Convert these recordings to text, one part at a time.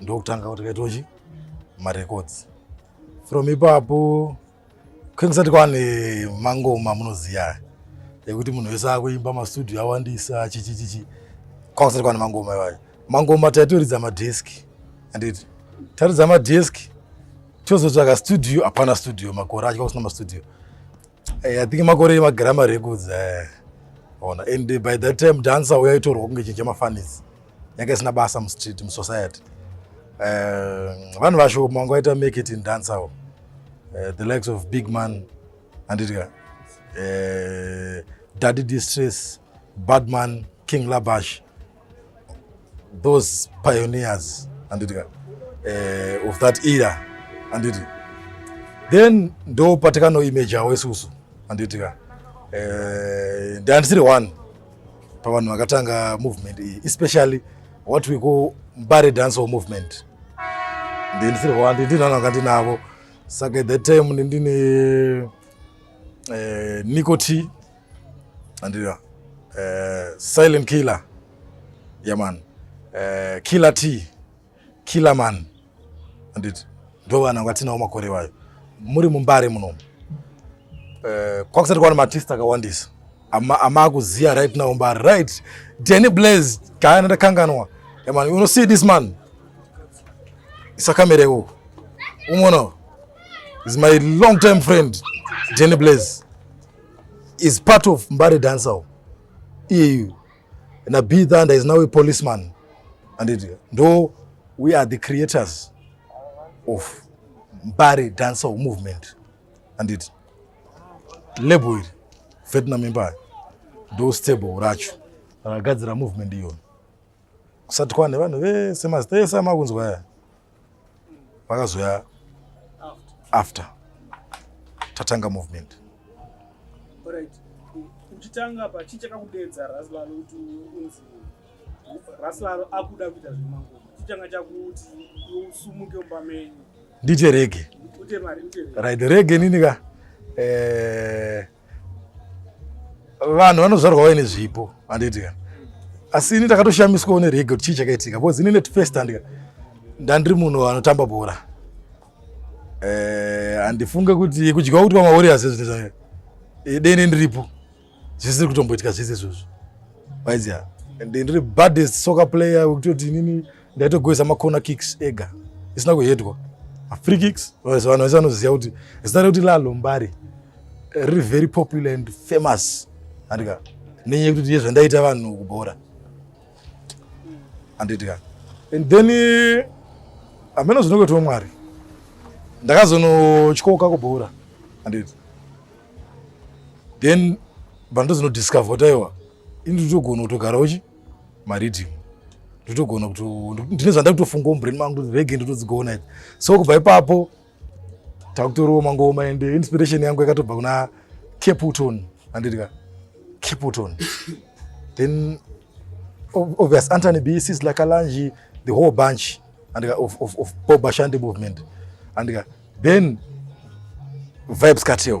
ndokutanga kuti kaitochi marecords from ipapo kwekusati kwava nemangoma munoziva ekuti munhu wese akuimba mastudio awandisa chichichichi kwakusati kwava nemangoma iwayo mangoma taitoridza madhesk anditi taridza madhesk tozotsvaga studio hapana studio makore acho kwakusina mastudio hey, eh, i think makore emagrama records eh, ona and by that time dancer uya itorwa kunge chinhu chemafanisi yanga isina basa mustreet musociety eh, vanhu uh, vasho manga waita make it in dance awo uh, eh, the likes of big man anditya uh, eh, daddy distress badman king labash those pioneers anditya uh, of that era anditi then ndo patikanoimajawo isusu anditya uh, ndiandisiri one pavanhu vakatanga movement iyi especially what we call mbare dancehall movement ndindisirwa ndindinano anga ndinavo saka at that time ndindine eh, nico t andira eh, silent killer yaman eh, killer t Killerman handiti ndo vana vatinawo makore vayo muri mumbare munomu uh, eh, kwakusati kwaona matist akawandisa amaakuziva ama right now mbare right dany blaze gaya ndandakanganwa man you see this man isakamera ikoko umona is my long time friend dany blaze is part of mbare dancer iyeyu na b thunder is now a policeman anditi ndo we are the creators of mbare dancehall movement anditi label iri vietnam empire ndo stable racho rakagadzira movement iyona kusati kwane vanhu vese mazita ese amakunzwa aya vakazoya after tatanga movement right uchitanga pa chii chakakudeedza raslalo kuti unzi raslalo akuda kuita zvemangoma chii changa chakuti usumuke mumba menyu ndiite rege right rege nini ka eh, vanhu vanozvarwa vaine zvipo handiti ka asi ini ndakatoshamiswawo nerege kuti chii chakaitika because ini netfirst handika ndandiri munhu anotamba bhora eh, handifunge kuti kudyiwa kuti vamawarriors ezvinezva eh, dene ndiripo zvisiri kutomboitika zvese izvozvo vaiziva ndiri baddest soccer player wekutoti inini ndaitogweza macorner kicks ega isina kuhedwa free kicks vanhu vese vanoziva kuti zita rekuti lalombari riri very popular and famous andika nenyaya yekuti ndiye zvandaita vanhu kubhora anditika and then hameno zvinokuitwa mwari ndakazonotyoka kubhora anditi then vanhu tozinodiscover kuti aiwa ini nditogona kutogara uchi maridhimu ndotogona kuti ndine zvanda kutofunga mubrain mangu kuti rege ndotodzigona idzi so kubva ipapo takutorowo mangoma and inspiration yangu yakatobva kuna caputon anditika caputon then obvious antony b sis lakalanji the whole bunch andika of, of, of bob ashandi movement andika then vibes cartel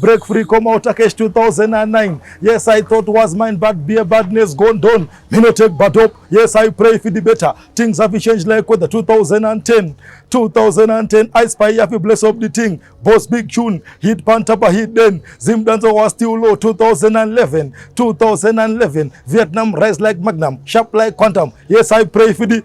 Break free koma utakesh 2009 yes i thought was mine but beer badness gone down me no take but up yes i pray if it better things have changed like with the 2010 2010 i spy if you bless up the thing boss big tune hit pantapa hit then zim dancer was still low 2011 2011 vietnam rise like magnum sharp like quantum yes i pray if it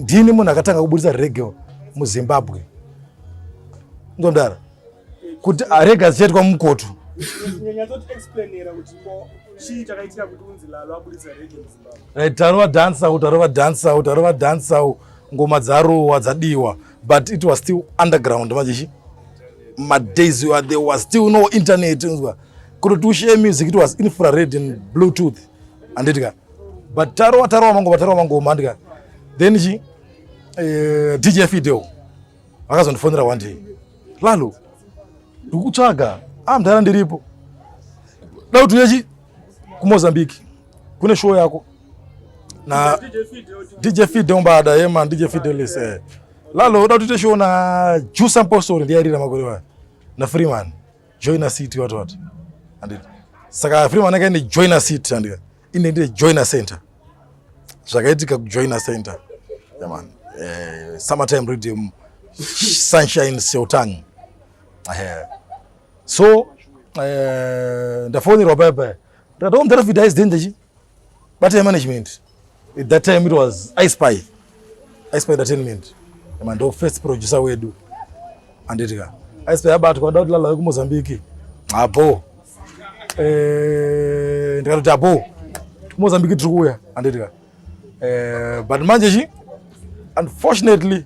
ndini munhu akatanga kuburitsa rege muzimbabwe ndomdara kuti arege azichaitwa mukoto right tarova dance out tarova dance out tarova dance out ngoma dzarowa dzadiwa but it was still underground mazishi madays there was still no internet unzwa kutotiushe music it was infrared and bluetooth anditi ka but tarowa tarowa mango tarowa mango mandika then chi eh, DJ Fidel vakazondifonera one day lalo ndikutsvaga ah mdara ndiripo dai kuti uyechi kumozambique kune show yako na dj fide umbada ye man dj fide lise eh. lalo uda kuti show na juice apostle ndiye rira makore wa na freeman joiner city wati wati handiti saka free manaka ine joiner city handika ine ndine joiner center zvakaitika kujoiner center yaman eh, summertime rhythm sunshine seutang eh, so eh, ndafonerwa paya paya ndikati omdhara oh, fidaizdende chi bate management At that time it was I Spy. I Spy Entertainment. Kama ndo first producer wedu. Anditika. I Spy abatwa kuda kuti lala ku Mozambique. Abo. Eh, ndikati abo. Ku Mozambique tiri kuya. Anditika. Eh, but manje chi unfortunately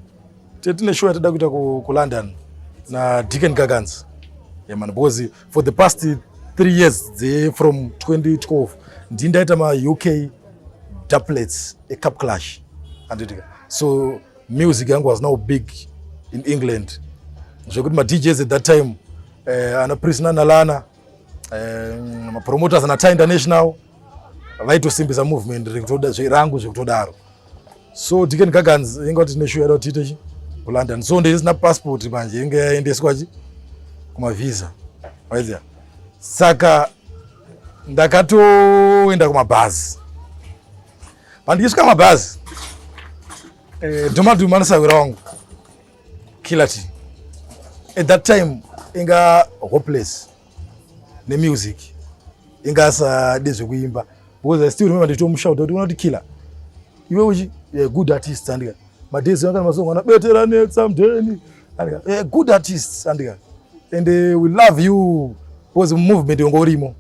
tine show yatida kuita ku, ku London na Deacon Gagans. Yeah man, because for the past three years dze from 2012 ndii ndaita mauk duplets ecup clash anditika so music yangu was now big in england zvekuti madjs at that time uh, ana prisna nalana uh, eh, mapromoters ana tie international vaitosimbisa movement rekutoda zverangu zvekutodaro so tiken gagans inge kuti tine shuwa tiite chi kulondon so ndisina passport manje inge yaendeswa chi kumavhisa waizia saka ndakatoenda kumabhazi pandichisvika kumabhazi eh, domadu manosawira wangu kilati at that time inga hopeless nemusic inga asade zvekuimba because i still remember nditomushauta kuti unoti killer iwe uchi eh, good artist andika madays anga masong ana betera netsa mdeni andika eh, good artist andika and uh, we love you because movement yongo urimo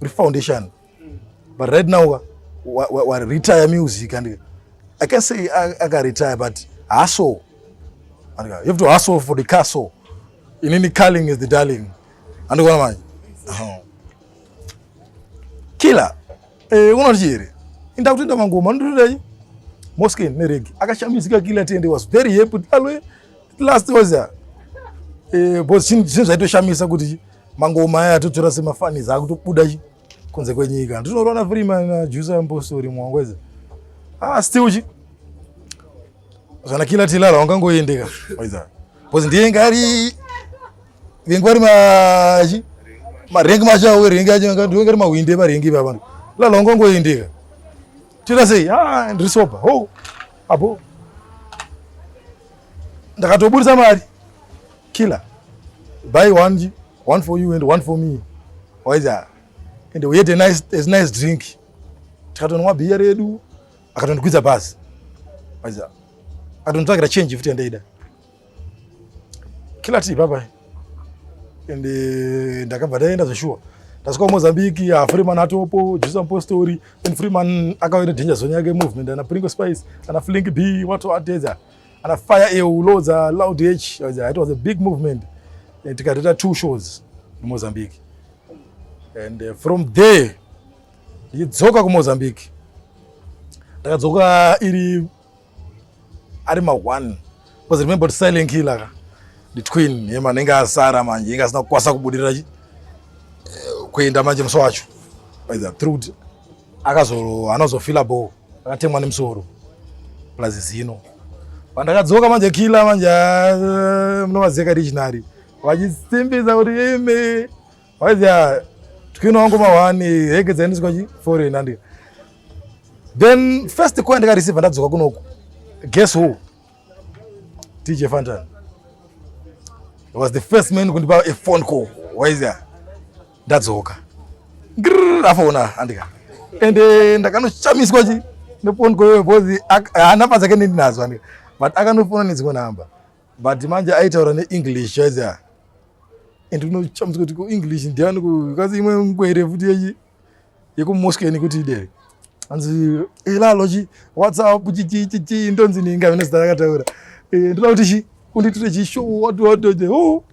uri foundation but right now wa, wa, wa, wa retire music andika i can say akaretire but haso andika you have to hustle for the castle inini calling is the darling andikuona manje kila eh, unoti here inda kutenda mangoma ndotodai mosken neregi akashamisika kila tende was very happy alwe last was ya eh, bos chinhu zvaitoshamisa kuti mangoma aya atotora semafani zaakutobuda chi kunze kwenyika ndinoona freeman na jusa ampostori mwangweza ah still chi zvana kila tilala wangangoendeka bos ndiye ngari vengi vari machi marengi machi awo rengi acho ndinenge ri mahwindi evarengi iva vanhu lala ungangoendeka tira sei a ah, ndiri soba ho abo ndakatoburitsa mari killer buy one one for you and one for me waiza and we had a nice, a nice drink tikatonwa bhiya redu akatondikwidza bhazi waiza akatonitsvagira change futi yandaida kila tii baba and eh, ndakabva ndaenda zveshuwa ndasvika kumozambique ah, freeman atopo jesus apostori and freeman akauya nedanger zone yake movement ana pringo spice ana flink b watoatedza ana fire eu lodza loud h it was a big movement eh, tikatoita two shows mumozambique and eh, from there ndichidzoka kumozambique ndakadzoka iri ari ma one because remember kuti silent killer ka the twin yema anenge asara manje inga asina kukwasa kubudirira eh, kuenda manje musi wacho by the truth akazo anozofila bo akatemwa nemusoro plus zino pandakadzoka manje killer manje eh, munovaziva kadictionary vachisimbisa kuti imi Waizia twino wangu mawani heke dzainiswa chi foreign andi. Then first coin ndika receive ndadzoka kunoku. Guess who? TJ Fantan. He was the first man kundipa a phone call. Waizia ndadzoka. Grrr afona andika. Ende ndakanoshamiswa chi. Nepon koyo bozi anapa dzake ndinazo andika. But akanofona nedzimwe namba. but manje aitaura neenglish chaizia and unochamisa kuti kuenglish ndiani kukazi imwe nguva ire futi yechi yekumosken kuti idere hanzi ilalo chi whatsapp chichichichi ndonzi ninga vine zita rakataura eh, ndoda kuti chi kunditire chishow watoatote ho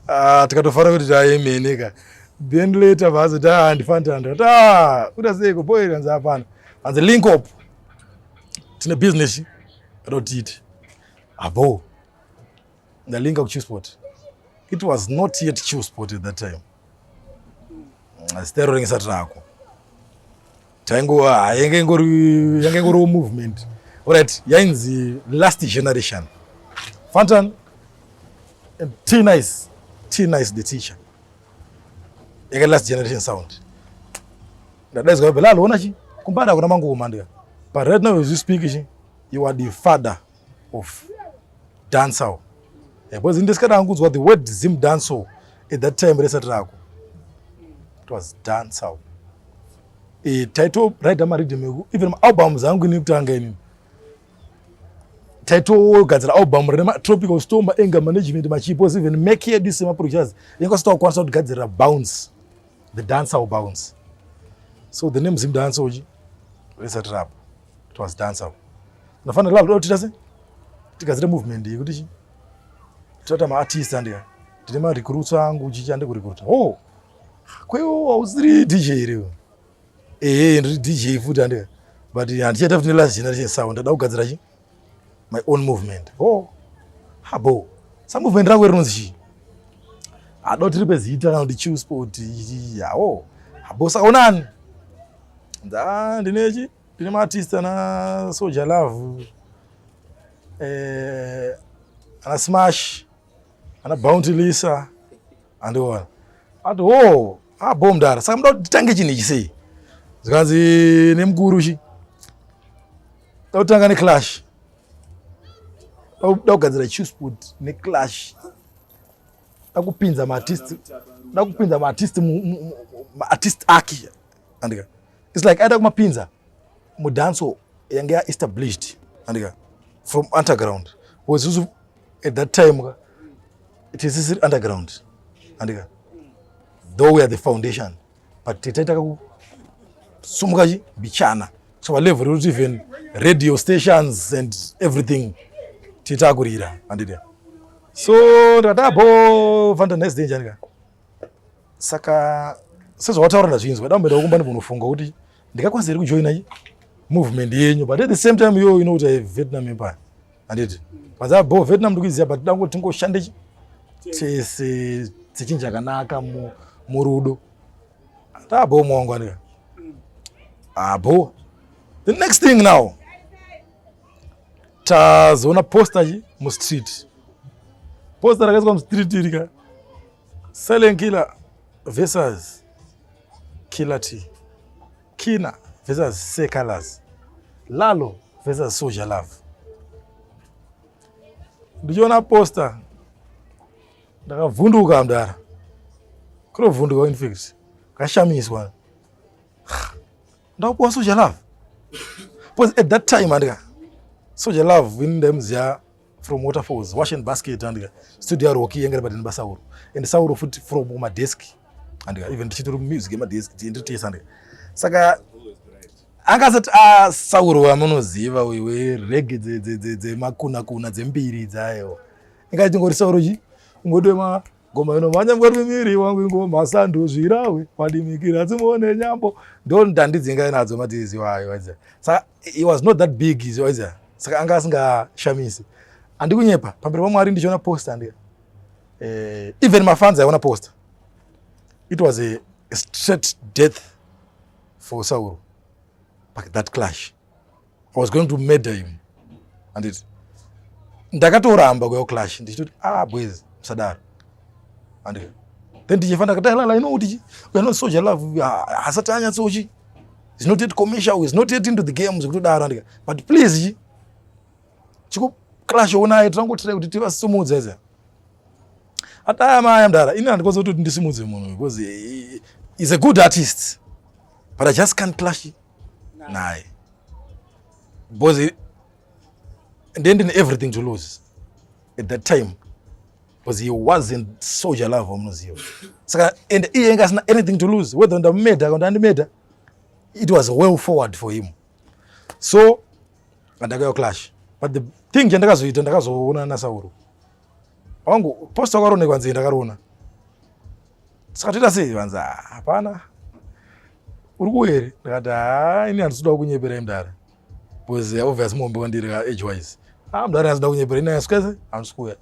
ah, tikatofara kuti taemene ka then later vazoti ah, handifanitanda kuti ah, uda seiko boy hanzi hapana hanzi link up tine business Rotiti. Abo. Ndalinga ku Chewsport. It was not yet Chewsport at that time. Asi tairorengesa trako. Taingova yanga ingori yanga ingori movement. Alright, yainzi last generation. Fantan and T nice. T nice the teacher. Yanga last generation sound. Ndadaidzwa Belal ona chi kumbada kuna mangu kumandika. But right now as you speak chi you are the father of dancehall. Yeah, because ndisikada angudzwa the word Zim dancehall at that time resati rako. It was dancehall. Eh title right ama rhythm even album zangu ni kutanga ini. Title gadzira album rema tropical storm anger management machipo even make yedu sema producers. Yekosita kwanisa kugadzira bounce. the dancer will bounce so the name zim dancer uchi resa trap it was dancer unofanira lava totita se tigadzire movement iyi kuti chi totata maartist andika ndine marecruits angu uchichi ande kurecruita o oh, kwewo hausiri dj iri ehe ndiri dj futi andika but handichaita futi nelast generation sound ndada kugadzira chii my own movement oh habo sa movement rako rinonzi chii hado tiri pezita kana kuti chill sport yawo habo saka unani nda ndine chi ndine maartist ana soldier love eh ana smash ana bounty lisa andiona ati ho oh, abo ah, mdara saka muda kuti titange chinhu ichi sei zvikanzi nemukuru chi da kutanga neclash da kugadzira chewspod neclash da kupinza maartist da kupinza maartist maartist ake andika its like aida kumapinza mudanso yange yaestablished andika from underground was at that time ka tisisiri underground andika though we are the foundation but titaita kakusumuka chi mbichana kusvika level rekuti even radio stations and everything titakurira andida so ndadabo vanda nice day njani ka saka sezvawataura ndazvinzwa dambo ndakumba ndimbonofunga kuti ndikakwanisa here kujoina movement yenyu but at the same time yo ino kuti vietnam empire handiti panzaa bo vietnam ndikuiziva but toda kuti tingoshande tese sechinji chakanaka murudo ndaa bo mwangu andika abo mm. ah, the next thing now tazoona posta chi mustreet posta rakaiswa mustreet irika silent killer versus Killer T. Kina versus Say Colors. Lalo versus Soja Love. Ndichiona poster ndakavhunduka mdara. Kurovhunduka in fact. Kashamiswa. Ndakupuwa Soja Love. Because at that time andika Soja Love in them zya from waterfalls wash and basket andika studio yaroki yanga iri padini basauro and sauro futi from kumadesk andika even tichitori music yemadesk tienditesa andika saka anga asati asauro ah, wamunoziva wewe rege dzemakunakuna dzembiri dzayo ingaiti ngori sauro chi ungotema ngoma inomhanya ngori miri wangu ingoma sandu zvirawe wadimikira dzimuone nyambo ndo ndandidzingai nadzo matizi wayo waiza saka he was not that big is waiza saka anga asingashamisi andikunyepa pamberi pamwari ndichiona post andi eh, even mafans aiona post it was a, a straight death for sauro but that clash i was going to murder him handiti ndakatoramba kuya kuclash ndichitoti ah boys musadaro handiti then tichefa ndakatalala ino kuti weare not soja love hasati anyatsochi is not yet commercial is not yet into the game zvekutodaro handika but please chi chiko clash onaye tirangotirai kuti tivasumudza iza ataya maya mdara ini handikwanisa kutoti ndisimudze munhu because is a good artist but i just can't clash naye because ndendine everything to lose at that time because he wasn't soldier love wamunoziva saka and iye enge asina anything to lose whether ndamumeda kana ndandimeda it was well forward for him so andakayo clash but the thing chandakazoita ndakazoona nasauro wangu posta wakaronekwa nzee ndakaroona saka toita sei vanzi ah, hapana uri kuuya here ndikati haa ini handisudawo kunyeperai mdara bcause eh, obvious muhombe wandiri ka age wise haa mdara handisuda kunyepera ini asukese handisi kuuya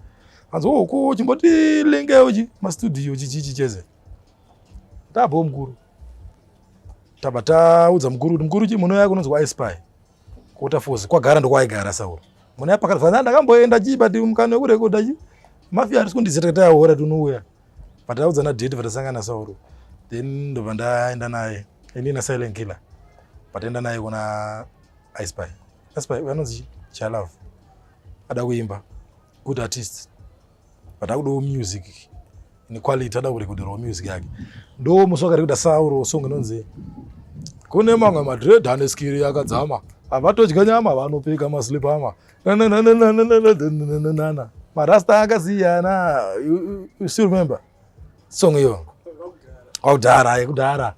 hanzi wo oh, ko chimboti linge uchi mastudio chichichi chese tabvawo mukuru taba taudza mukuru kuti mukuru chi munouya kunonzwa ispy kuota fozi kwagara ndokwaigara sauro muna yapakati fanaa ndakamboenda chii but mukana wekurekodha chi mafia arisi kundizeta kuti ayahora tinouya pataudzana date patasangana sauro then ndobva ndaenda naye ini nasilent killer pataenda naye kuna ispy ispy anonzi chalove ada kuimba good artist but akudawo music inequality ada kurekoderawo music yake ndo musi wakarekoda sauro song inonzi kune mamwe madred ane skiri yakadzama havatodya nyama vanopika maslipama marasta akasiyana you still remember song iyo kwakudhara yekudhara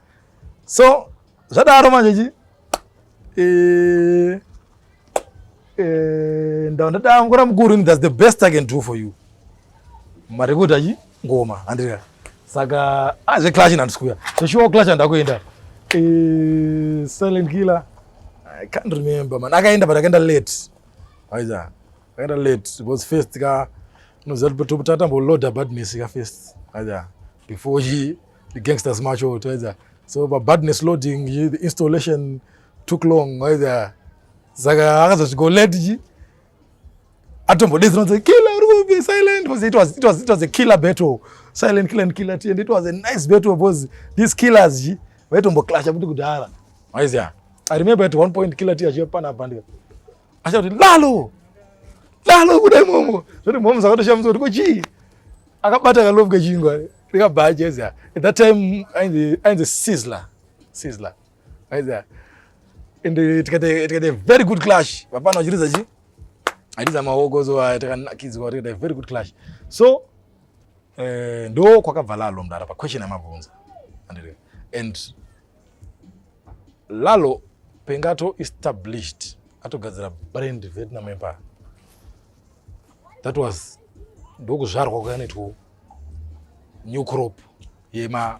so zvadaro manje chi eh, eh, ndandadangura mukuru thats the best i can do for you marikuda chi ngoma andira saka ah zve clash na ndisikuya so sure clash ndakuenda eh silent killer i can't remember man akaenda but akaenda late aiza akaenda late it was first ka unoziva kuti topotata mbo load bad miss ka first aiza before he the gangsters march out aiza so but badness loading the installation took long aiza saka akazozviko late ji atombodei zinonzi killer ruby silent because it was, it was, it was a killer battle silent killer and killer and it was a nice battle because these killers ji vaitomboclasha kuti kudhara maiziya i remember at one point killer ti achiyopana bandika achakuti lalo lalo kudai momo zvoti momo zakatoshamisa kuti kochii akabata kalobwe chingwa rikabhajeziya at that time ainzi sizzler sizzler Aiza. And uh, tikate tikate very good clash. Vapana vachiriza chi? Ariza maoko so uh, takanakidzwa tikate very good clash. So eh ndo kwakabva lalo mdara pa question amabvunza. Andire. And lalo pengato established atogadzira brand Vietnam Empire. That was ndokuzvarwa kwakaitwa new crop yema